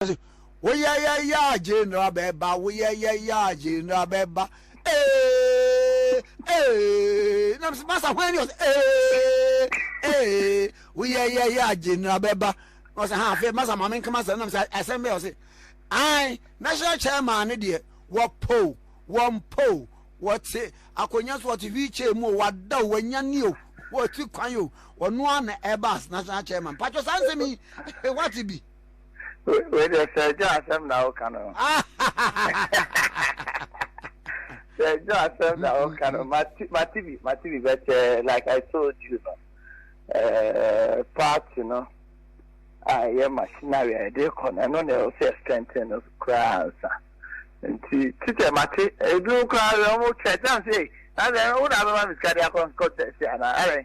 se woyɛyɛ yaa gyeenra bɛɛba woyɛyɛ yaa gyeenra bɛɛba ee ee na mese masa hwan ni ɔsɛ ee ee woyɛyɛ yaa gyeenra bɛɛba na ɔsɛ ha afei masa maame nkama sɛ na mese asɛm bɛɛ ɔse an national chairman ne deɛ wɔpoo wɔmpoo wɔte akonnwa so wɔte wheelchair mu o wada o wanya ni o wɔte kwan o ɔno a na ɛba as national chairman patwɛ saa nsɛm yi wate bi Wei deɛ sɛ ɛdwo asɛm na woka no. Sɛ ɛdwo asɛm na woka no mate bi mate bi but eh, like I told you no eh, party no a ɛyɛ machinery a yɛde kɔ no ɛno na ɛwɔ sɛ strengthen no koraa ansa nti titɛ mate ebinom koraa wɔn kyɛ kyɛn sɛ na sɛ wo na bɛma me sika de akɔ nkɔ tɛsi anaa ɛrɛn.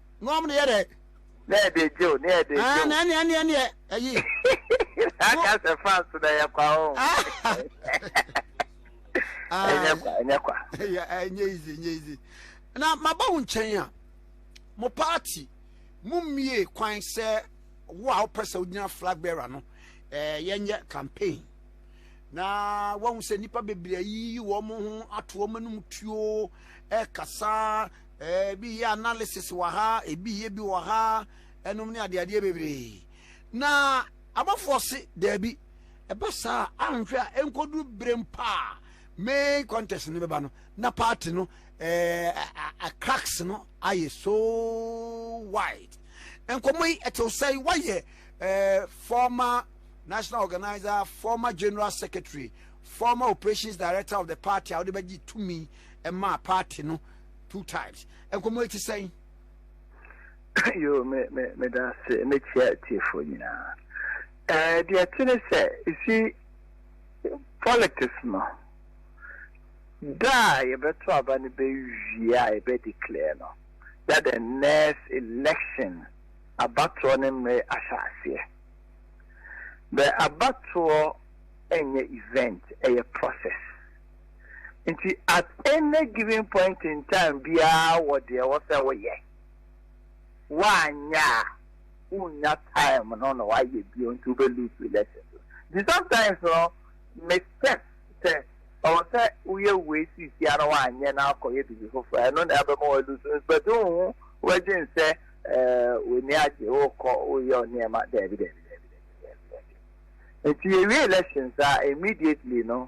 na wɔn de yɛ dɛ. na ɛde gye o na ɛde gye o. na ɛne ɛne ɛne ɛyi. aka sɛ fans na ɛyɛ kwa o. ɛnyɛ kwa ɛnyɛ kwa. ɛnyɛ easy ɛnyɛ easy na maba wo nkyɛn a mo party mo mmie kwan sɛ wo a wopɛ sɛ wogyina flag bearer no eh, yɛnyɛ campaign na wahu sɛ nnipa bebree ayiyi wɔn ho ato wɔn anum tuo ɛkasa Ɛɛ bi yɛ analysis wɔ ha, ebi yɛ bi wɔ ha, ɛnom ne adeadeɛ bebree. Na abɔfoɔ se daabi, ɛba saa a anhwɛ a ɛnkɔduru berɛ mpo a main contest no bɛba no na party no ɛɛ cracks no ayɛ so wide. Nkɔmmɔ yi ɛtew sɛn? Wayɛ ɛɛ former national organizer, former general secretary, former operations director of the party a wode bɛgye tumi ɛmaa party no. two times nkɔmɔ eti sɛn. yoo me me me da ase me kyia tiefo nyinaa ɛɛ eh, deɛ ti ne sɛ esi politics no da a yɛbɛto aba no bɛwie a yɛbɛ declare no that the next election abatoɔ ne mmere ahyɛ aseɛ bɛ abatoɔ ɛnyɛ event ɛyɛ process. Nti at any given point in time biara wɔ deɛ ɛwɔ sɛ woyɛ. Woanyɛ a, wonnya time no na woayɛ bio nti wobɛ lose relationship no. Nti sometimes no, me stress sɛ ɛwɔ sɛ woyɛ wei seesia na woanyɛ na akɔyɛ biribi foforɔ a, ɛno na ɛbɛma woa lose no but wonhu, wobɛdwen sɛ eh, w'ani agye, wokɔ, woyɛ wo nneɛma, daabi, daabi, daabi, daabi, daabi, daabi. Nti yɛwie elections a, immediately no,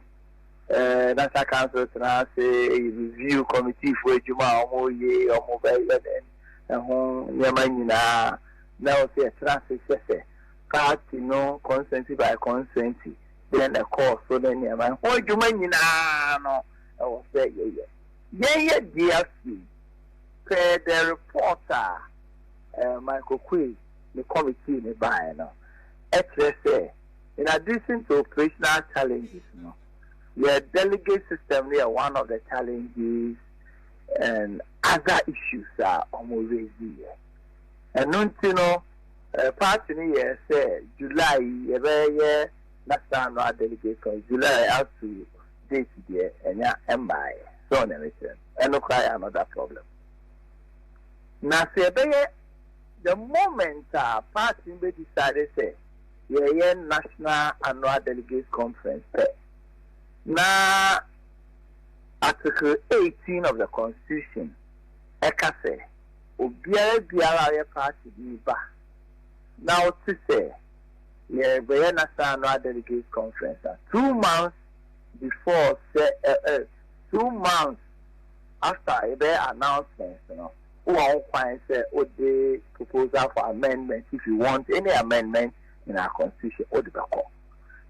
National Council tena ase review kɔmitiifoɔ adwuma a wɔreyɛ yi, wɔbɛyɛ dɛn, ɛho nneɛma nyinaa, na wɔsi ɛtena ase hwɛ sɛ party no constituency by constituency dɛn na ɛkɔɔ so ne nneɛma, ɛho adwuma nyinaa no ɛwɔ sɛ yɛyɛ. Yɛyɛ deɛ afei, per the report a Michael Oquaye ne kɔmitii no baeɛ no, ɛkyerɛ sɛ. In addition to operational challenges no, yɛ delegate system no yɛ one of the challenges and other issues a wɔn raise yɛ. Ɛno nti no, party no yɛɛ sɛ July yi yɛbɛyɛ national annual delegate con July up to date deɛ ɛnya ɛmmaeɛ. So ɔne ne kyerɛ no, ɛno koraa yɛ another problem. Na sɛ yɛbɛyɛ the moment a party no bɛ decide sɛ Yɛreyɛ National Annual Delegates Conference pɛ na Article eighteen of the Constitution ka sɛ obiara biara a ɔyɛ party bi ba na ɔte sɛ yɛrebɛyɛ National Annual Delegates Conference a, two months before sɛ, eh, eh, two months after yɛbɛyɛ announcement no, Wowɔ ho kwan sɛ wode proposal for amendment if you want any amendment in our constitution wode bɛkɔ.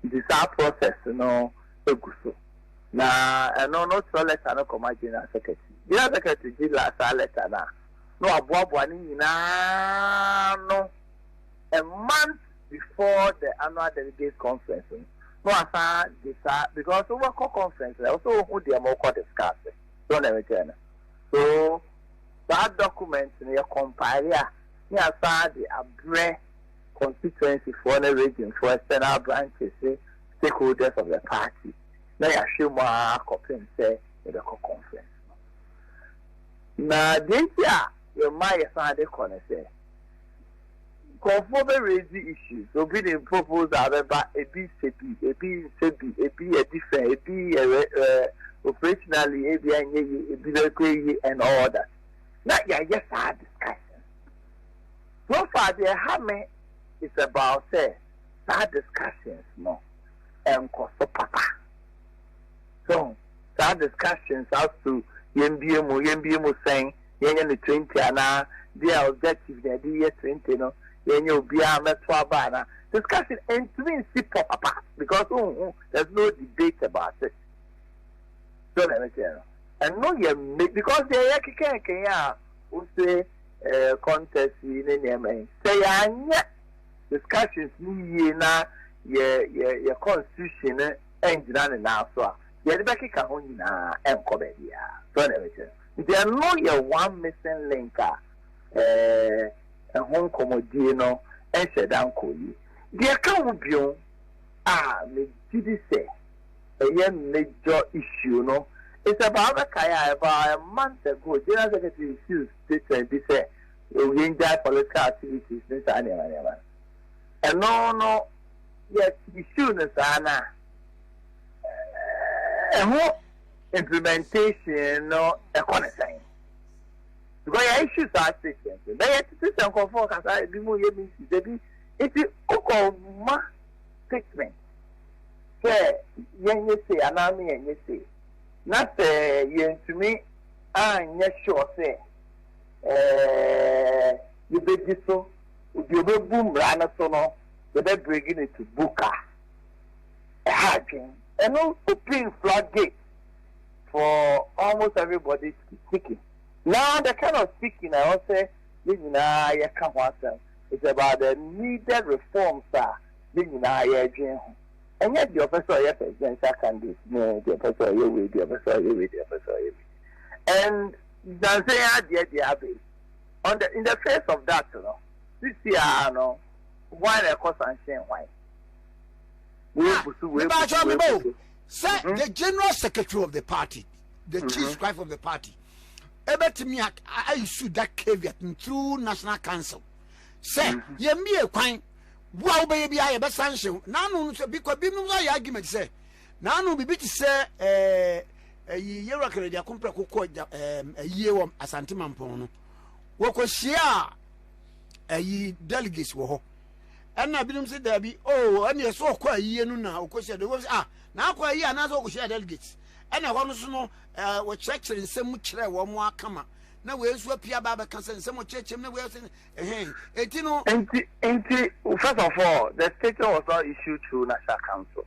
Nti saa process no gu so. Na ɛno no wokyerɛw letter no kɔma General Secretary. General Secretary gye saa letter no a, na waboaboa ne nyinaa ano. A month before the annual delegates conference no, na wasan de saa because wobɛkɔ conference no ɛwɔ sɛ wohu deɛ morekɔ discuss. So wo na mekyerɛ no? So saa document no yɛ compile a ne yɛasan de abrɛ constituency foɔ ne region foɔ external branches ne stakeholders of the party na yɛahwɛ mu ara akɔpem sɛ yɛbɛkɔ conference no. Na deɛ nti a yɛma yɛsan de kɔ ne sɛ, Nkorɔfoɔ bɛ raise issues, obi de proposal bɛba, ebi sɛ bi, ebi nsɛ bi, ebi yɛ different, ebi yɛ rɛ rɛ, operationally ebia ɛnyɛ yie, ebi bɛkɔ ayie and all that. Na yɛayɛ saa discussions. So far deɛ ɛha me is about sɛ saa discussions no nkɔ so papa. So saa discussions as to yɛmbue mu, yɛmbue mu sɛn? yɛnyɛ no twenty anaa deɛ a objective na yɛde yɛ twenty no yɛnyɛ obiara mmɛto aba anaa discussion ntumi nsi pɔ papa because wohu there's no debate about it so na ɛno kyerɛ no ɛno yɛ mme because deɛ yɛ kekɛnkɛn a wose eh, contest yi ne nneɛma yi sɛ yɛanyɛ discussions no yie na yɛ yɛ yɛ constitution no ngyina ne nan so a yɛde bɛkeka ho nyinaa ɛnkɔ baabiara so na ɛno kyerɛ no Nti ɛno yɛ one missing link a ɛɛ ɛho nkɔmɔdie no nhyɛ da nkɔ yie. Deɛ ɛka ho bio a me gye di sɛ ɛyɛ major issue no is about, wobɛkae a about a month ago General Secretary issued statement bi sɛ yɛngyae political activities ne saa nneɛma nneɛma no. Ɛno no yɛ issue no saa no a ɛho. Implementation no kɔ no sɛn? Because yɛ issues are stations no bɛyɛ tete sɛ nkurɔfoɔ kasa ebi mu yɛ meetings ebi nti wokɔ ma statement sɛ yɛnyɛ sei anaa me yɛnyɛ sei na sɛ yɛntumi anyɛ sure sɛ ɛɛ yɛbɛdi so deɛ ɔbɛbu mmara no so no yɛbɛbregi no to book a ha adwen. Eno open flood gate for almost everybody speaking. Na the kind of speaking a ɛwɔ sɛ yɛn nyinaa yɛka ho asɛm is about the needed reforms a yɛn nyinaa yɛredwen ho. Ɛnyɛ deɛ ɔpɛ sɛ ɔyɛ presidential candidate ne deɛ ɔpɛ sɛ ɔyɛ wei, deɛ ɔpɛ sɛ ɔyɛ wei, deɛ ɔpɛ sɛ ɔyɛ wei. And nansa yi adeɛ deɛ aba yi, on the, in the face of that no, sisi ara no, hwan na ɛkɔ sanhyɛn hwan? Ah, mebakyɛ me ba o. Sɛ mhm. the general secretary of the party, the mhm. chief scribe of the party, ebetumi a issue that caveat through national council. Sɛ mhm. yɛn mi ekwan bu a wobɛyɛ bi a yɛbɛ sanction. N'ano no sɛ bikɔ bi nom ayɛ argument sɛ n'ano bibi ti sɛ ɛɛ ɛyi yɛwura kɛrɛ di akompɛ kokɔ ɛɛ ɛyie wɔ asante mampɔn no wɔkɔ hyia ɛyi delegates wɔ hɔ. ɛna binom sɛ daabi o oh, ɛneɛ sɛ ɔkɔ ayie no na ɔkɔhyia delegates sɛ ah na akɔ ayie anaasɛ ɔkɔhyia delegates ɛna ɛhɔ no so no eh, wɔkyerɛkyerɛ nsɛm mu kyerɛ wɔn mo akama na wei nso apia ba bɛka sɛ nsɛm ɔkyerɛkyerɛm na wei sɛ ɛhɛn enti no enti enti first of all the statement was not issued through national council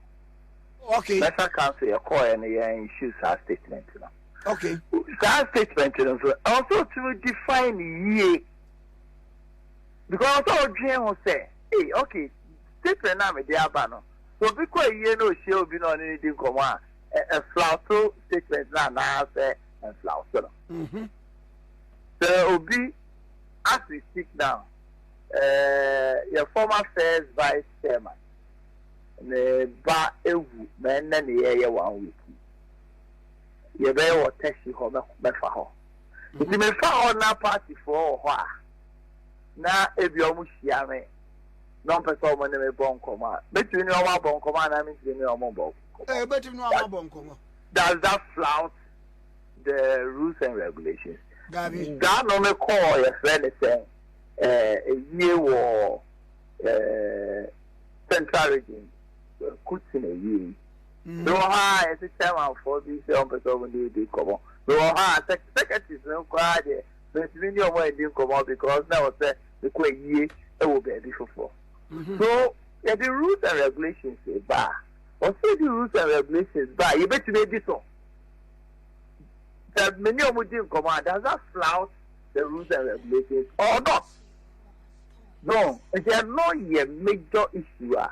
okay national council yɛ kɔɔ yɛ no yɛn issue saa statement no okay saa statement no nso ɛwɔ sɛ ɔtumi define yie Because sɛ odwen ho sɛ, ei ok statement no a mede aba no, sɛ obi kɔ ayie na ohyia obi na ɔne no di nkɔmmɔ a, ɛflawto statement no anaasɛ ɛnflawto no. Sɛ obi, as we speak now, eh, yɛ former first vice chairman, ne ba ewu ma ɛnnɛ ne yɛyɛ one week yi, yɛbɛyɛ wɔ taxi hɔ mɛfa hɔ. Nti me fa hɔ na party foɔ wɔ hɔ a na ebia ɔmo hyia me na ɔmpɛ sɛ ɔmo ne me bɔ nkɔmɔ a mɛtumi ne ɔmo abɔ nkɔmɔ anaa mentumi ne ɔmo bɔ nkɔmɔ. Ɛɛ bɛtumi ne ɔmo abɔ nkɔmɔ. Does that flout the rules and regulations? Daabi. Da no me kɔɔ yɛfrɛ ne sɛn ɛɛ yie wɔ ɛɛ central region kutsin yie yi. Bi wɔ hɔ a yɛse chairmanfoɔ bi sɛ wɔmpɛ sɛ wɔne yɛdi nkɔmmɔ. Bi wɔ hɔ a secretaries no koraa deɛ mentumi ne wɔn anni nkɔmmɔ because na ɛwɔ sɛ mekɔ ayie wɔ baabi foforɔ. So yɛde rules and regulations ba a, ɛwɔ sɛ yɛde rules and regulations ba a yɛbɛtumi adi so. Sɛ me ne wɔn di nkɔmmɔ a, does that flout the rules and regulations or not? No, nti ɛno yɛ major issue a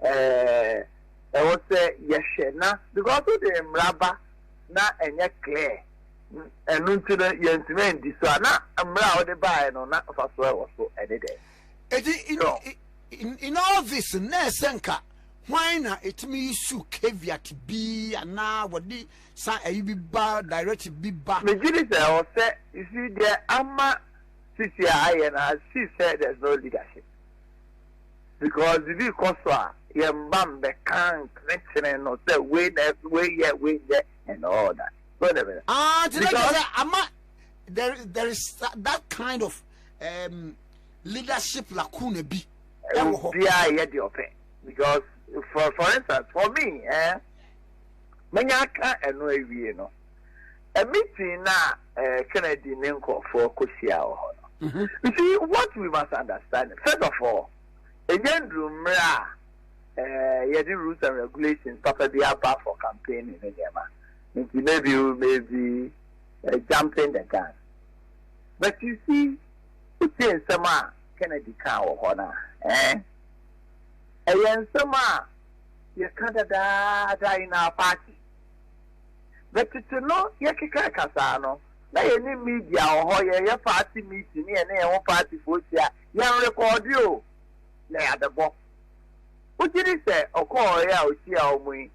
ɛɛ. Ɛwɔ sɛ yɛhwɛ na because wode mmara ba na ɛnyɛ clear ɛno nti no yɛntumi andi so a na mmara a wode baeɛ no na mfasoɔ a ɛwɔ so ɛne dɛn? Eti in, no. in, in all this na ɛsɛ nka hwan na ɛtumi yi su caveat bi anaa wɔde san ayi bi ba directive bi ba? Megye di sɛ ɛwɔ sɛ you see deɛ ama sisi a ayɛ no I see sɛ there's no leadership. Because bibi kɔ so a yɛn ba mbɛka nkyene no sɛ wei na ɛso wei yɛ wei nyɛ and all that so de bɛ. Ah nti na kyerɛ sɛ ama there there is that kind of um, leadership lacuna bi ɛwɔ hɔ. Obiara yɛ deɛ ɔpɛ because for for instance for me eh, menya aka ɛno awie no. a meeting na eh, Kennedy ne nkurɔfoɔ kɔhyia wɔ hɔ no. Mm-hmm. You see, what we must understand, first of all, ɛnyɛ nduru mmerɛ a eh, yɛde rules and regulations papa bi aba for campaigning ne nneɛma. Nti maybe you may be uh, jumping the gun. But you see, wotie nsɛm a Kennedy kaa wɔ hɔ no a, eh? ɛyɛ nsɛm a yɛka dadaada in our party. Na tete no yɛkeka ɛkasaa no, na yɛne media wɔ hɔ, yɛyɛ party meeting ne yɛne yɛn ho partyfoɔ hyia, yɛnrekɔɔde o, na yɛabɛbɔ. Wogye di sɛ ɔkɔɔeɛ a ɔhyiaa wɔn yi,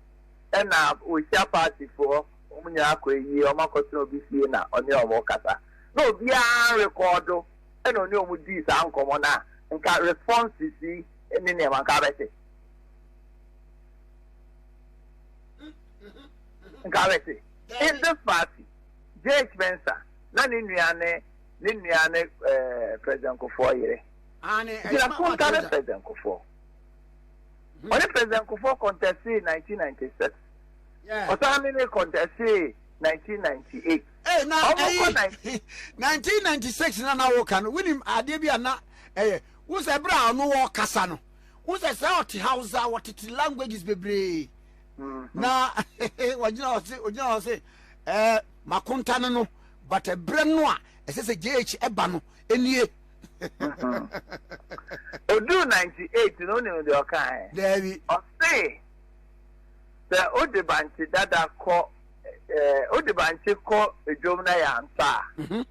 ɛna wɔhyia partyfoɔ, wɔn nyinaa akɔ ayie, wɔakɔtena obi fie na ɔne wɔn rekasa, na obiara nrekɔɔdo, ɛna ɔne wɔn dii saa nkɔmmɔ no a, nka responses yi ne nneɛma nka abɛte. Nkawese, Inze Fassi, JH Mensah, na ne nua ne ne nua ne eh, President Kufuor yere. Gyina Kunta ne President Kufuor. Hmm. Ɔne President Kufuor contested 1996. Ɔsan ne ne contested 1998. Ee na ɛyi 1996 na na wɔka no wonim adeɛ bi a na ɛyɛ wosɛ berɛ a ɔno wɔkasa no wo sɛ sɛ ɔte hausa wɔtete languages bebree mm-hmm. na wɔgyina hɔ se ɔgyina hɔ se ɛɛ makonta no no but ɛberɛ no a ɛsɛ sɛ jh ɛba no ɛnie mm-hmm. oduu 98 no wonim deɛ ɔkaɛ daabi ɔse sɛ wode bankye dada kɔ wode bankye kɔ dwom na yɛ ansa a mm-hmm.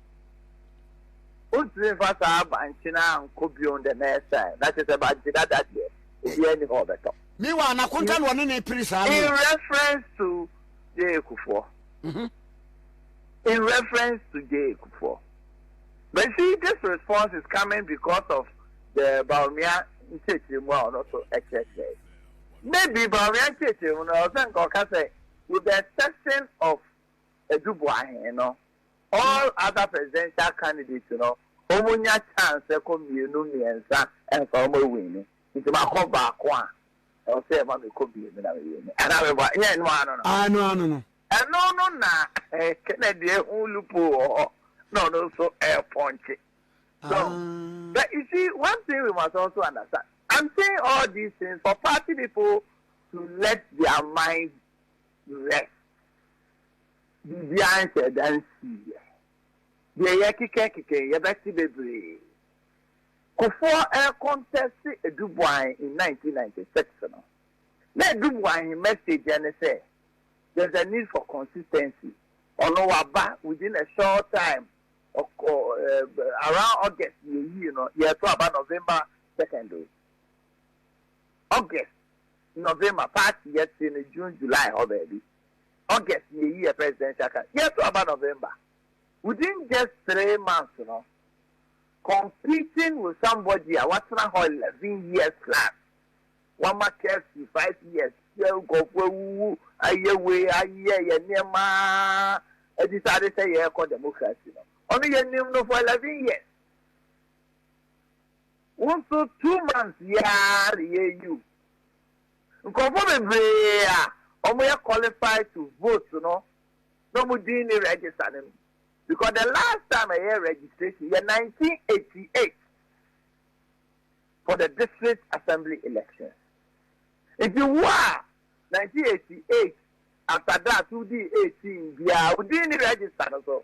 Ontumi mfa saa abankye no ankɔ bio the next time, na kyerɛ sɛ bankye dada deɛ obiara nni hɔ ɔbɛtɔ. Meanwhile na Konta na ɔne no repere saa no o. In reference to Jay Kufuor, in reference to Jay Kufuor, but you see this response is coming because of the Bawumia nkyerɛkyerɛmu a ɔno nso ɛkyerɛkyerɛe. Maybe Bawumia nkyerɛkyerɛmu no ɔsɛ nka ɔka sɛ with the exception of Adu Boahen no, All other presidential candidates no ɔmo nya chance ɛkɔ mmienu mmiɛnsa ɛnsa ɔmo ɛwini nti makɔ baako a ɛwɔ sɛ ɛma mekɔ mmienu na me wini anaa me bɔ nyɛ ɛno ano no. Aah ɛno ano no. Ɛno no na Kennedy ɛhu loophole wɔ hɔ na ɔno nso ɛɛpɔnkye so but you see one thing we must also understand I'm saying all these things for party people to let their mind rest. Biribiara nhyɛɛ da nsiiɛ. Deɛ yɛkeka keka yi, yɛbɛte bebree. Kufuor rekɔntɛste Aduboahn in nineteen ninety six no, na Aduboahn message ne sɛ, there's a need for consistency. Ɔno waba within a short time, ɔkɔ around August yɛyii no, yɛto aba November second o. August, November, party yɛtee no June, July hɔ baabi. August yeyi yɛ presidential card yɛto aba November within just three months no competing with somebody a watena hɔ eleven years plus wama KFC five years sɛ nkurɔfoɔ awuwu ayɛ wei ayɛ yɛ nneɛma adisade sɛ yɛrekɔ democracy no ɔno yɛnim no for eleven years wo nso two months yɛa reyɛ yiw Nkurɔfoɔ bebree a wɔn yɛ qualified to vote no na wɔn din ne register no mu because the last time ɛyɛ registration yɛ nineteen eighty eight for the district assembly election nti wo a nineteen eighty eight after that wo di eighteen biara wo din ne register no so.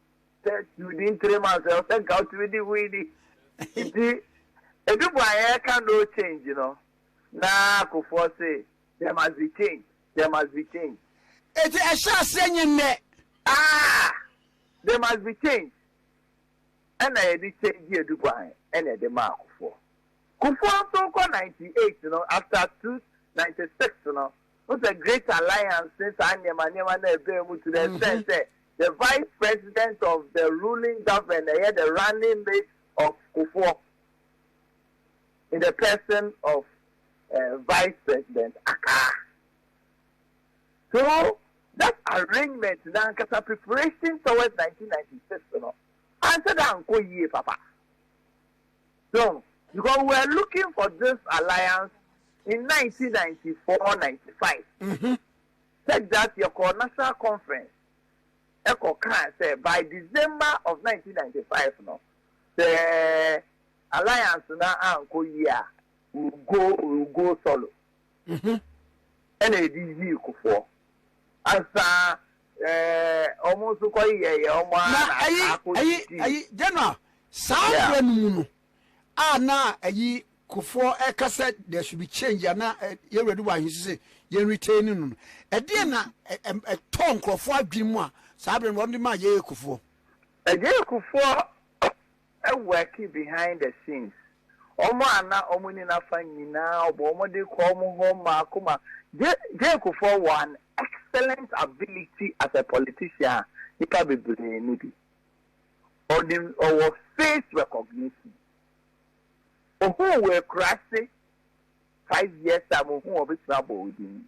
sɛ wodi in three months ɛwɔ sɛ nka wotumi di hui ni nti edu bɔ a yɛreka no change no na akofoɔ se there must be change there must be change eti ɛhyɛ aseɛ nye nnɛ ah there must be change ɛna yɛde change edu bɔ a ɛna ɛde ma akofoɔ kofoɔ nso kɔ ninety eight no after two ninety six no Wohu sɛ Great Alliance ne saa nneɛma nneɛma no a ɛbaa mu to the extent sɛ the vice president of the ruling government na ɛyɛ the running mate of Kufuor in the person of eh, vice president Akaa. So that arrangement na ankasa preparation towards 1996 no ansɛ dɛ ankɔ yie papa. so because we were looking for this alliance in 1994-95 such that yɛkɔɔ national conference ɛkɔ kaa sɛ by december of 1995 no sɛ alliance na ankɔ yie a we will go we will go solo Wo ho na ɛde yii kofoɔ. Ansa ɛɛ wɔn nso kɔ yɛyɛ wɔn ara na ataa kɔ didi. Na ɛyi ɛyi general saa mmerɛ no mu no a na ɛyi kofoɔ ɛka sɛ there should be change a na yɛn wura Dubai ahyehyɛ sɛ yɛn retain no no ɛdeɛ na ɛtɔ nkorɔfoɔ adwene mu a saa abirɛ no wɔn de maa yɛyɛ kofoɔ. Ɛyɛ kofoɔ worki behind the scenes wɔn a na wɔn ni nafa nyinaa ɔbɔ wɔn de kɔ wɔn hɔ mmaako mmaako J J Kufuor wɔ an excellent ability as a politician a nnipa bebree ni bi ɔnim ɔwɔ face recognition ohuu wɔ akurase five years time ohuu ɔbɛtumi abɔ wo din.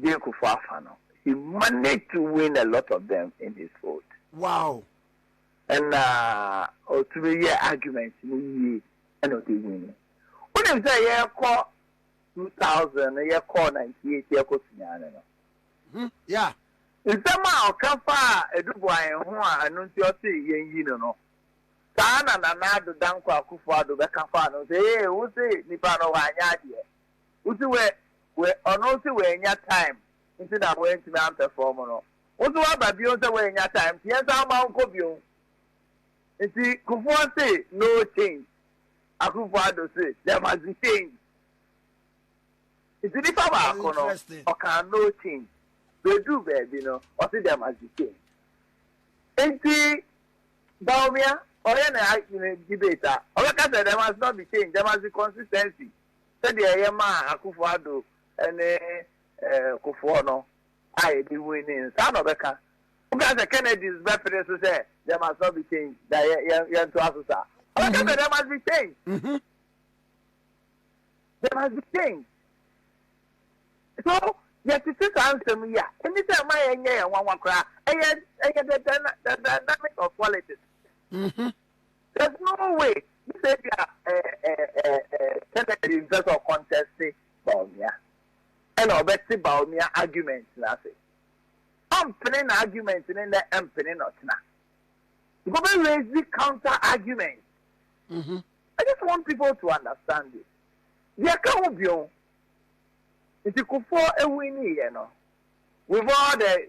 Jane Kufuor afa no, he managed to win a lot of them in his fold. Wow. Ɛna ɔtumi yɛ argument no yie ɛna ɔde win no. Wonim sɛ yɛkɔ 2000 no yɛkɔɔ 98 yɛkɔ suaa no no. Hmm, yeah. Nsɛm a ɔka faa Edubuae ho a ɛno nti ɔse yɛnyi no no, saa na Nana Addo Dankwa Akufo-Addo bɛka faa no sɛ ee wose nipa no wanyɛ adeɛ. wo se wɛ wɛ ɔno se wɛnya time nti na wɛntumi ampɛfɔm no wo so waba bio sɛ wɛnya time nti yɛnsan mma wo nkɔ bio nti kufuɔ se no change akufo ado se there must be change nti nipa baako no ɔkaa no change bɛduu baabi no ɔse there must be change nti Bawumia ɔyɛ ne debate a ɔbɛka sɛ there must not be change there must be consistency sɛdeɛ yɛmaa Akuffo Addo ne Kufuor no a yɛde hui no yɛn saa na ɔbɛka. Woka sɛ Kennedys bɛpene so sɛ there must not be change na yɛntoa so saa. Ɔbɛka sɛ there must be change. Mm-hmm. There must be change. So yɛtete saa nsɛm yi a ɛni sɛ ɛma yɛnyɛ yɛn nwanwa koraa ɛyɛ ɛyɛ the dynamic of politics. Mm-hmm. There's no way ne sɛ ebia Kennedy mpɛ sɛ ɔkɔntɛste Bawumia ɛna ɔbɛte Bawumia argument no ase. Ɔmpene na argument no nnɛ mpene na ɔtena. Nka ɔbɛ raise the counter argument. Mm -hmm. I just want people to understand this. Deɛ ka ho bio nti kufoɔ ewu ni yɛ no with all the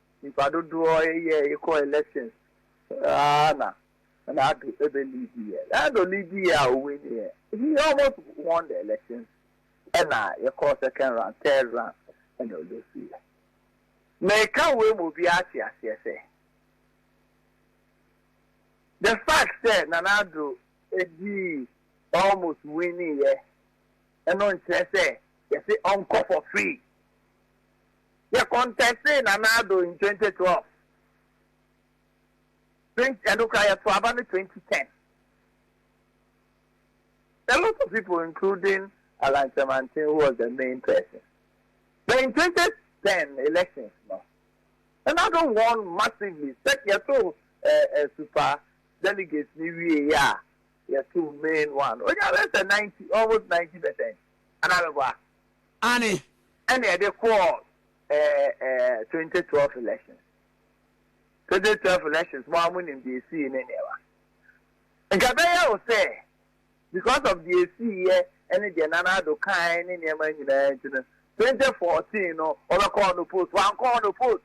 nyimpa dodoɔ yɛ ekɔ elections aa na na Addo ebɛ lead yɛ na Addo lead yɛ a o win yɛ he almost won the elections ɛna yɛ kɔɔ second round third round ɛna o lose yɛ meka wei ma obiara ate aseɛ sɛ the fact sɛ Nana Addo edii almost win yɛ ɛno nkyerɛ sɛ yɛse ɔnkɔ for free. Yɛ kɔntɛstee Nana Addo in twenty twelve, twenty ɛno koraa yɛ to aba no twenty ten. A lot of people including Allan Kyerematen who was the main person. But in twenty ten elections no, Nana Addo won massively sɛk yɛ to eh, eh, super delegates ni wie yɛ a, yɛ to main one. Onya bɛ sɛ ninety, almost ninety percent. Anaa bɛ bɔ a. Aane. Ɛna ɛde kɔɔ twenty twelve elections twenty twelve elections mo ara mo nim deɛ esii ne nneɛma nka ɛbɛyɛ wo sɛ because of deɛ esii yɛ ɛne deɛ Nana Addo kae ne nneɛma nyinaa nti no twenty fourteen no ɔbɛkɔ ɔno post wankɔ ɔno post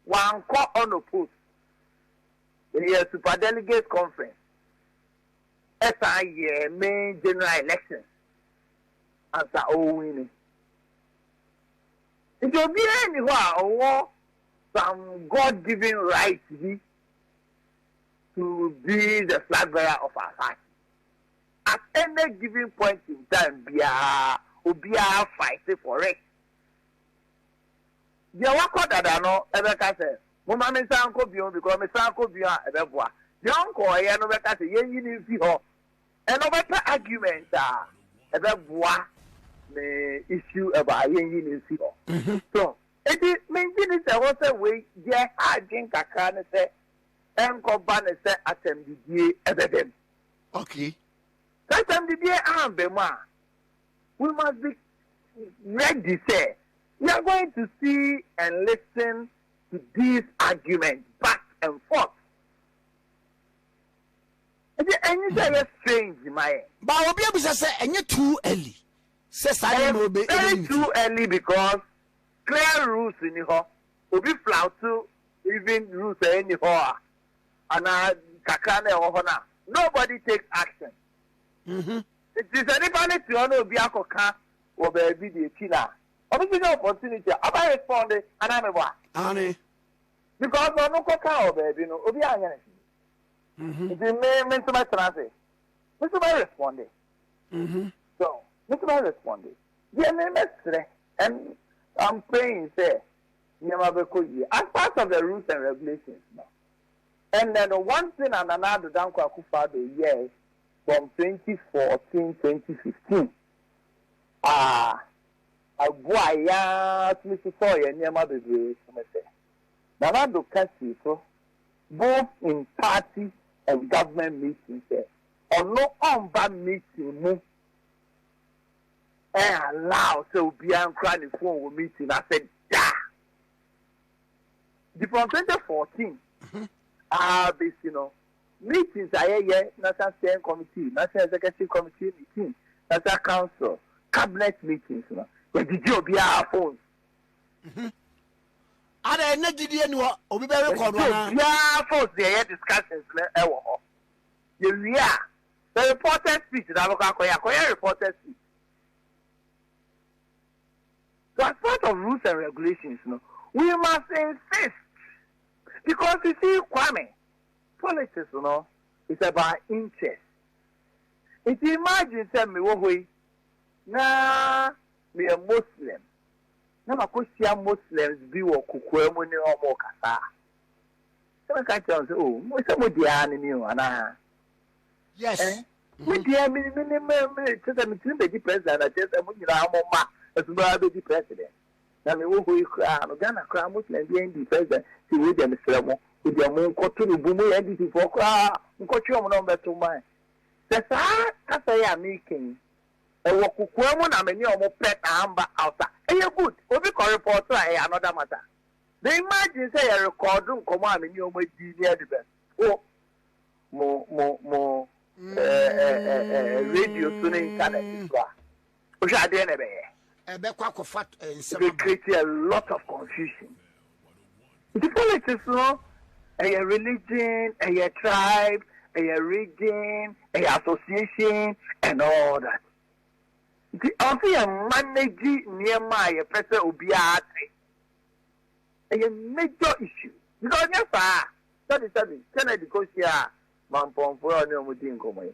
wankɔ ɔno post ɛyɛ super delegate conference. ɛsan yɛɛ main general election ansa ɔrewini. Nti obiara nni hɔ a ɔwɔ some God given right bi to be the flag bearer of our party. At any given point in time biara obiara fight for it. Deɛ wakɔ dada no bɛka sɛ, Momma mensan nkɔ bio, because mesan kɔ bio a ɛbɛboa. Deɛ ɔnkɔeɛ no bɛka sɛ, Yɛnyi no mfi hɔ. Ɛnna ɔbɛpɛ argument a ɛbɛboa ne issue ɛbɔ a yɛnyi no mfi hɔ. So enti mengye nni sɛ ɛwɔ sɛ wei, deɛ ɛha adwene kakra ne sɛ ɛnkɔba no sɛ asɛmdidie bɛba mu. Okay. Sɛ asɛmdidie amba mu a, we must be ready sɛ we are going to see and listen to these arguments back and forth. Ɛdi ɛnyi sɛ ɛyɛ strange ma yɛ. Ba obi abisa sɛ ɛnyɛ too early sɛ saa nneɛma obe ebeyi ne ti. Ɛyɛ very too early because clear rules ni hɔ. Obi flout even rules a ɛni hɔ a anaa kakra na ɛwɔ hɔ no a nobody takes action. Mm-hmm. Enti sɛ nipa no te hɔ na obi akɔ ka wɔ baabi de akyi no a, ɔbɛbenya opportunity a ɔbɛ respond anaa me boa? Aane. Because ɔno kɔ kaa wɔ baabi no obi anyɛ no hwee nti me me nso mɛ tena ase me nso mɛ respond so me nso mɛ respond deɛ me mɛ srɛ and I'm praying sɛ nneɛma bɛ kɔ yie as part of the rules and regulations no ɛnɛ no one thing a Nana Addo Dankwa Akufo-Addo yɛɛ from twenty fourteen twenty fifteen a ɛboa yɛn ara tumi sosɔɔ yɛn nneɛma bebree so ne sɛ, Nana Addo ka sii so both in party and government meeting sɛ ɔno ɔmba meeting mu ɛn allow sɛ obiara nkura ne phone wɔ meeting no ase da. Nti from twenty fourteen a bɛsi no, Meetings a yɛyɛ, National Steering Committee, National Executive Committee meeting, National Council, Cabinet meetings no, yɛgyegye obiara phones. Mhm. Ada ɛnɛ gyidie ni hɔ, obi bɛ record wa naa. Yɛgyegye obiara phones na yɛyɛ discussions no ɛwɔ hɔ. Yɛwie a, sɛ reporters speech na abɛkɔ akɔyɛ a, kɔyɛ reporters speech. So as part of rules and regulations no, we must insist because you see Kwame, Politics no is about interest nti imagine sɛ me wɔ hɔ yi na me yɛ Muslim na makɔ hyia Muslims bi wɔ kokoa mu ne wɔn rekasa a, sɛ mɛka akyerɛ wɔn sɛ oh mo sɛ mo deɛ ara ne me o anaa? Yes. Eh? Me mhm. deɛ me me ne me me kyerɛ sɛ metumi bɛdi president na kyerɛ sɛ mo nyinaa mo mma ɛtumi ara bɛdi president. na me wɔ hɔ yi koraa no Ghana koraa Muslim biara ndi president nti wei deɛ mesrɛ mo wei deɛ mo nkɔ to no bu mo yɛ NDC foɔ koraa mo nkɔ twe wɔn na wɔn bɛ to man sɛ saa kasa yi a meka yi ɛwɔ kokoa mu na me ne wɔn pɛ na amba out a ɛyɛ good obi kɔ report a ɛyɛ another matter me imagine sɛ yɛ record nkɔmɔ a me ne wɔn adi ne ɛde bɛ wɔ mo mo mo ɛɛ ɛɛ ɛɛ radio so ne internet so a. Wohwɛ a deɛ na ɛbɛyɛ? Ɛbɛkɔ akɔfa eh, nsɛm aba. It create a lot of confusion. Nti politics no ɛyɛ religion, ɛyɛ tribe, ɛyɛ region, ɛyɛ association and all that. Nti ɔsɛ yɛ manage nneɛma a yɛpɛ sɛ obiara te. Ɛyɛ major issue because nyɛ saa sɛbi sɛbi Kennedy kɔ hyia mampɔnfoɔ a ɔne wɔn di nkɔmɔ yi.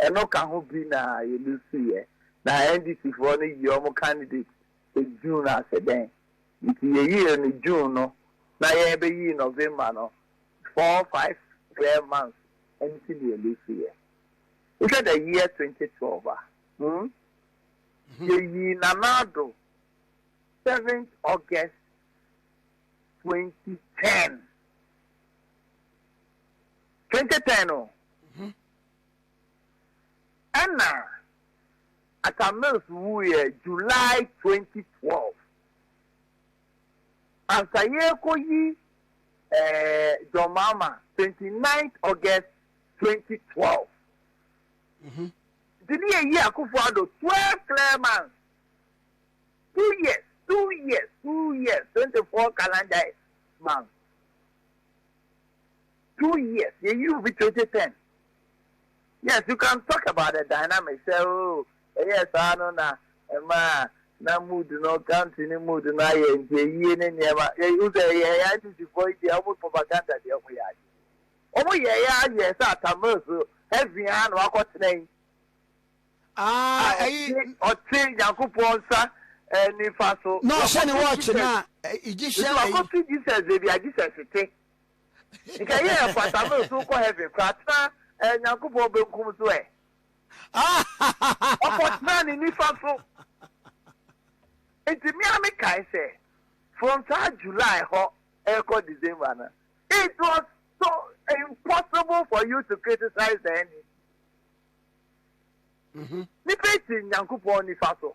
Ɛno ka ho bi na yɛlusu yɛ. Na NDC foɔ no yi wɔn candidate sɛ June ase dɛn nti yɛyii no June no na yɛbɛyii November no four five clear months nti na yɛlusu yɛ. Wohwɛ the year twenty twelve a hmm yɛyii Nana Addo seventh August twenty ten twenty ten o. Ɛna Atta Mills wuiɛ July twenty twelve. Ansa yɛrekɔyi John Mahama twenty ninth August twenty twelve. Nti ne yɛyi Akuffo Addo twelve clear months, two years, two years, two years, twenty four calendar months. two years yɛ yi obi twenty ten yes you can talk about the dynamic sɛ oo ɛyɛ saa no na ɛmaa na mood no country ne mood no ayɛ nti ayie ne nneɛma yɛ yi sɛ yɛ yɛ ICC fo yi deɛ ɔmo propaganda deɛ ɔmo yɛ ayɛ ɔmo yɛ yɛ ayɛ sɛ atamil so heaven a na wakɔ tena yi ah ɛyi ɔte nyankopɔn nsa nifa so na ɔhyɛ ne wɔɔkye na egyptian ɛyi wakɔ fi Jesus ebi a Jesus te. Nka yɛ ɛfata mɛ so kɔ heaven kora tena eh Nyankopɔn benkum so eh Ɔkɔ tena ne nifa so Nti me a me kae sɛ from saa July hɔ ɛkɔ December no it was so impossible for you to criticize the enemy mm-hmm. Nipa ti Nyankopɔn nifa so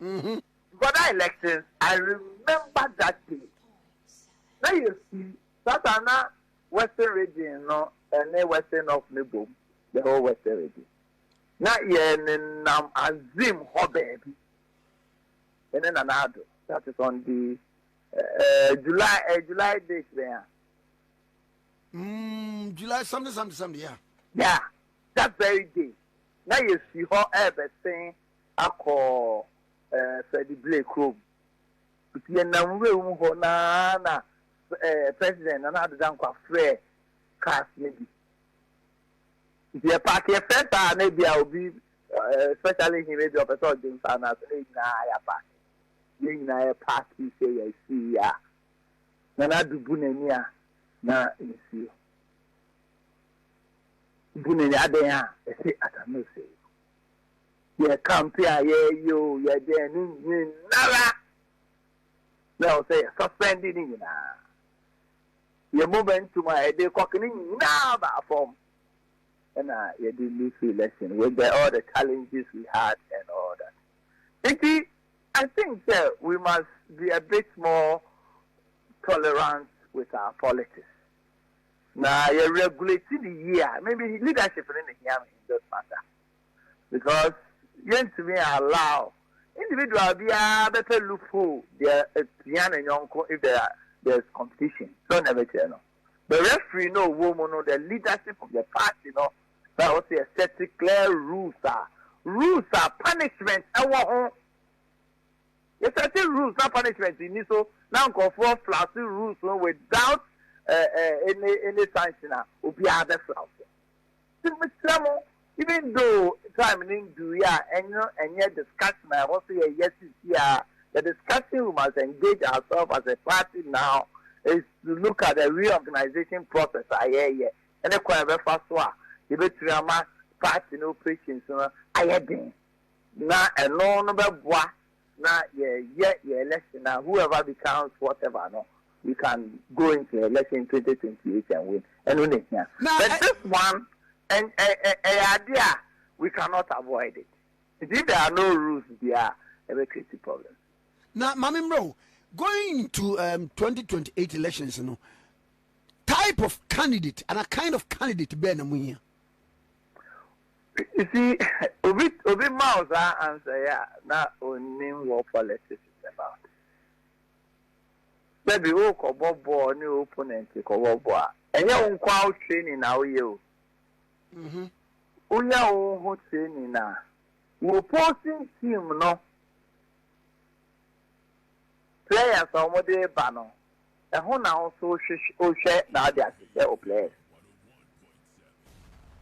Mhm. Before that election I remember that day na yɛ fi saa saa na western region no ɛne western north no bom the whole western region na yɛ ne nam azim hɔ baabi ɛne nana ado that is on the uh, July uh, July date bɛn a. Mm, July something something something yeah. Yeah, that very day na yɛ fi hɔ ɛbɛsen. akɔ eh, Freddie Blay kurom. Nti yɛnam nwura mu hɔ no ara na eh, President Nana Addo Dankwa frɛɛ cars no bi. Nti yɛpaake, yɛfrɛ saa a na ebia obi, eh, especially him, ebia ɔpɛ sɛ ɔgye nsa no ase, na yɛn nyinaa yɛapaake. Yɛn nyinaa yɛpaakee sɛ yɛasii a, Nana Addo bu n'ani a na nsuo bu n'ani, adɛn a ɛte Asamoah Osei. yɛ campaign a yɛyɛ o yɛ dɛn ne nyinara na ɛwɔ sɛ yɛ suspend ne nyinaa yɛ momentum a yɛde kɔk ne nyinaa baa fam ɛna yɛde lose election with the, all the challenges we had and all that nti I think sɛ we must be a bit more tolerant with our politics Na yɛ regulate no yie a, me me leadership no na ehia me in this matter because yɛntumi allow individual biara bɛpɛ loophole deɛ epia ne yɔnko if there there is competition. Sɛn na ɛbɛkyerɛ no? The referee na ɔwɔ mu no, the leadership of the party no na ɛwɔ sɛ yɛ set clear rules a rules a punishment ɛwɔ ho. Yɛsɛte rules na punishment nni so na nkurɔfoɔ flouse rules no without any any sanction a, obiara bɛ flouse. Nti mesrɛ mo, even though time no nduruiɛ a, ɛno ɛnyɛ discussion a ɛwɔ sɛ yɛyɛ seesei ara. The discussion we must engage ourselves as a party now is to look at the reorganisation process a yɛreyɛ ne kwan a yɛbɛfa so a yɛbɛtumi ama party no operations no ayɛ den. Na ɛno no bɛboa na yɛyɛ yɛn election na whoever becomes whatever no we can go into election twenty twenty eight and win ɛno na ehia but this one ɛyɛ ade a we cannot avoid it nti if there are no rules bia ɛbɛ create problem. Na maame mmerɛ o going into um, twenty twenty eight elections no type of candidate and a kind of candidate bɛɛ na mo hia. You see, obi obi ma wo saa answer yi a na onnim what politics is about. Dabi wokɔbɔ bɔɔl ne opponent kɔbɔ bɔɔl a, ɛnyɛ wo nko ara wo training na woyɛ o. Mhm. Wonya wo ho training a, wo opposing team no players a wɔde ba no, Ɛho na wo nso wohwɛ na ade ase sɛ o players.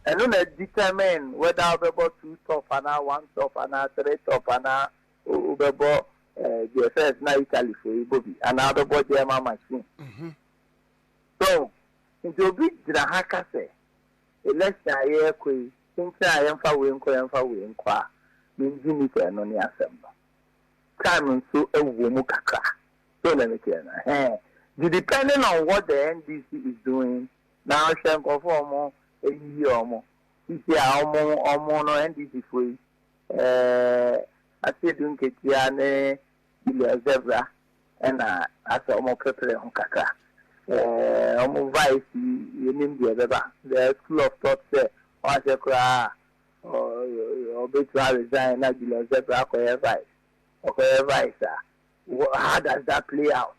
Ɛno na determine whether wobɛbɔ two top anaa one top anaa three top anaa wobɛbɔ deɛ first na Italy fo yi bɔ bi anaa wobɛbɔ German machine. Mhm. So nti obi gyina ha ka sɛ election a yɛrekɔ yi kyenkyen a yɛmfa wei nkɔ yɛmfa wei nkɔ a mengye nni sɛ ɛno ne asɛm no. Time nso wɔ mu kakra. So na ɛbɛte anaa? Ɛhɛɛ. Nti depending on what the NDC is doing na ahwɛ nkurɔfoɔ a wɔn ayiyi wɔn. Sisi a wɔn wɔn no NDC foɔ yi ɛɛ Asiedu Nketia ne Julius Zebra ɛna asɛ wɔn pɛpɛrɛ ho kakra. Ɛɛ wɔn vice yi yɛnim deɛ ɛbɛba. The school of thought sɛ wɔahyɛ koraa a ɔbɛtumi aresign na Julius Zebra akɔyɛ vice. Ɔkɔyɛ vice a. Wha how does that play out?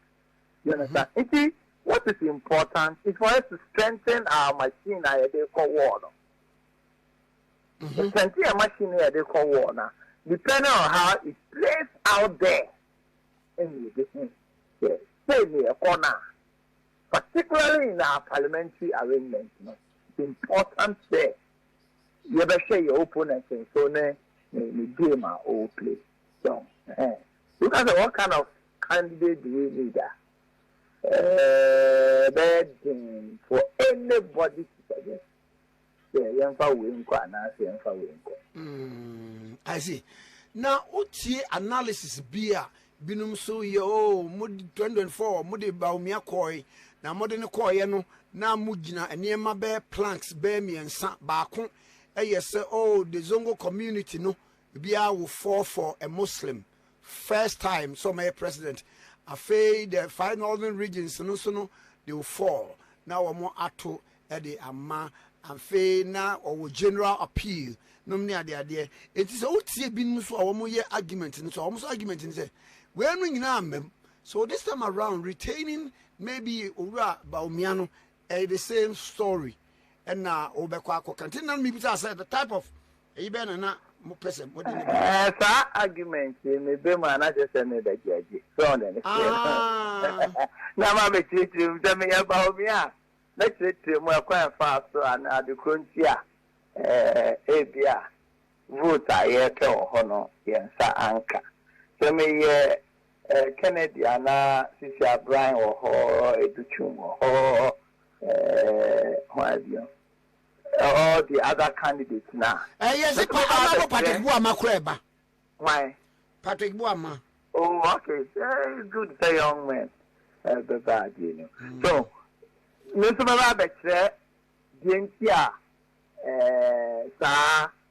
You understand? Mm-hmm. Nti what is important is for us to strengthen our machine na yɛde kɔ wall no. Mm-hmm. Strengthen your machine na yɛde kɔ wall na depending on how it plays out there ɛna yɛde hu sɛ sɛ ne ɛkɔ no a particularly in our parliamentary arrangement no it's important sɛ yɛbɛhwɛ yɛ opponent nso ne ne ne game a ɔwɔ play so. Eh. Woka sɛ what kind of candidate do we need a, ɛbɛyɛ den for anybody to suggest sɛ yɛmfa wei nkɔ anaasɛ yɛmfa wei nkɔ. Mm, I see. Na wotie analysis bi a binom so yɛ o oh, mo 2024 mode Bawumia kɔe na mode no kɔeɛ no na mogyina nneɛma bɛɛ planks bɛɛ mmiɛnsa baako ɛyɛ sɛ o oh, the zongo community no Biaa wo fall for a Muslim first time sɛ ɔmɛyɛ president afei the five northern regions no nso no they will fall na wɔn ato de ama afei na ɔwɔ general appeal nom ne adeadeɛ enti sɛ wotie binom nso a wɔn yɛ argument no so a wɔn nso argument no sɛ wei no nyinaa mmam so this time around retaining maybe owura Bawumia no Ɛyɛ the same story ɛna wobɛkɔ akɔka nti na mebisa sɛ the type of ɛyi bɛyɛ na na mopɛ sɛ mode ne ba. Ɛɛ saa argument yi meba mu a na kyerɛ sɛ meba gyaagye so ɔde ne seɛ no na ma bɛkyerɛkyerɛ mu sɛ meyɛ Baomia a mɛkyerɛkyerɛ mu ɛkwan ɛfaa so a na ade korɔ nti a ɛɛ ebi a vote a yɛpɛ wɔ hɔ no yɛn nsa anka sɛ meyɛ Eh, Kennedy anaa Sisi Abrine wɔ hɔ, Edu Twum wɔ hɔ, eh, hwan bio? All the other candidates na. Eh, yes, Mɛtumi pa, ba ama no Patrick Buama kora ɛba. Why? Patrick Buama. Oh, okay. Eh, good sɛ young man. Eh, bɛba adeɛ no. Mm. So, me nso bɛba abɛkyerɛ deɛ nti a eh, saa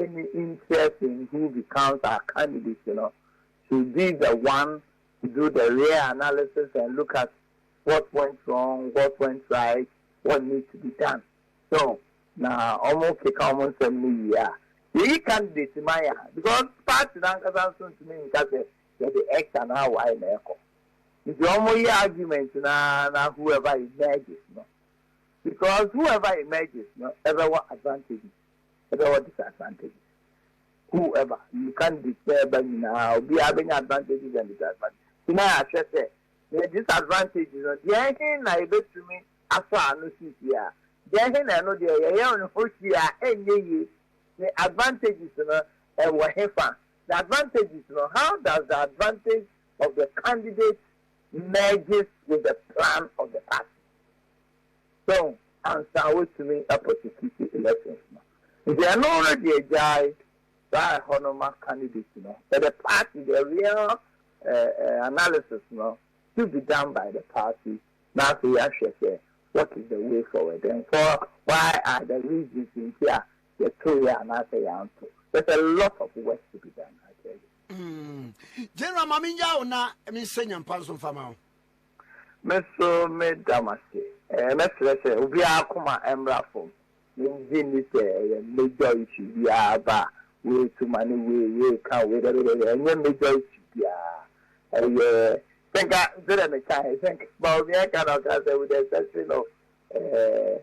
any interest in who becomes our candidates no should be the one to do the real analysis and look at what went wrong, what went right, what needs to be done. So, na wɔn keka wɔn nsɛm no yie a, yɛyi candidate ma yɛ a, because party n'ankasa nso ntumi nka sɛ yɛde X anaa Y na ɛkɔ. Nti wɔn yɛ argument na na whoever emerges no, because whoever emerges no ɛbɛwɔ advantages. ɛbɛ wɔ disadvantage who ever you can't despair ɛba nyinaa obiara bɛnya advantages and disadvantage ti na yɛahwɛ sɛ yɛ disadvantage no deɛ ɛhe na yɛbɛtumi asɔ ano sisi a deɛ ɛhe na ɛno deɛ yɛyɛ ne ho hwee a ɛnyɛ yie ne advantages no ɛwɔ he fa the advantages no how does the advantage of the candidate merges with the plan of the party Sɛn ansa wetumi apɔsititi elections no nti ɛno no deɛ gyae saa ɛhɔ no ma candidate no yɛ the party the real analysis no should be done by the party na afei yɛahwɛ sɛ what is the way forward and for why are the reasons nti a yɛto yɛ anaasɛ yɛanto there's a lot of work to be done I tell you. Mm. General Mami Yao na Minsenya Mpanso Mfama. Me nso meda mo ase. Ɛɛ, mɛsrɛ sɛ obiara koma mmra fam. Migye nni sɛ ɛyɛ major issue bi a aba a woretu ma ne wei, woreka wei, dɛbɛdɛbɛ. Ɛnyɛ major issue biara. Ɛyɛ sɛ nka sɛ dɛ meka he, sɛ nka Bawumia reka na ɔka sɛ with the exception of ɛɛ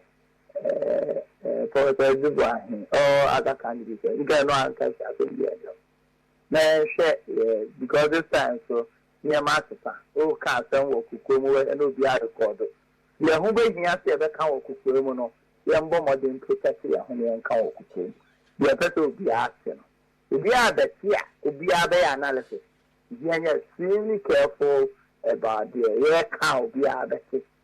ɛɛ Professor Dubois he, all other candidates he, nka ɛno anka asɛm biara nni hɔ. Na yɛnhwɛ yɛ because this time so nneɛma asesa. Woka asɛm wɔ kokoa mu hɔ na obiara rekɔɔdo. Deɛ ɛho bɛhia sɛ yɛbɛka wɔ kokoa mu no, yɛmmɔ mmɔden mprotɛkte yɛn ho na yɛnka wɔ kokoa mu. Deɛ ɛpɛ sɛ obiara te no, obiara bɛte a obiara bɛyɛ analysis. Nti yɛnyɛ extremely careful about deɛ yɛreka a obiara bɛte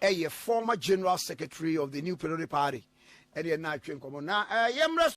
yɛ former general secretary of the New Patriotic Party ɛne yɛn na atwe nkɔmmɔ na yɛmmrɛ so.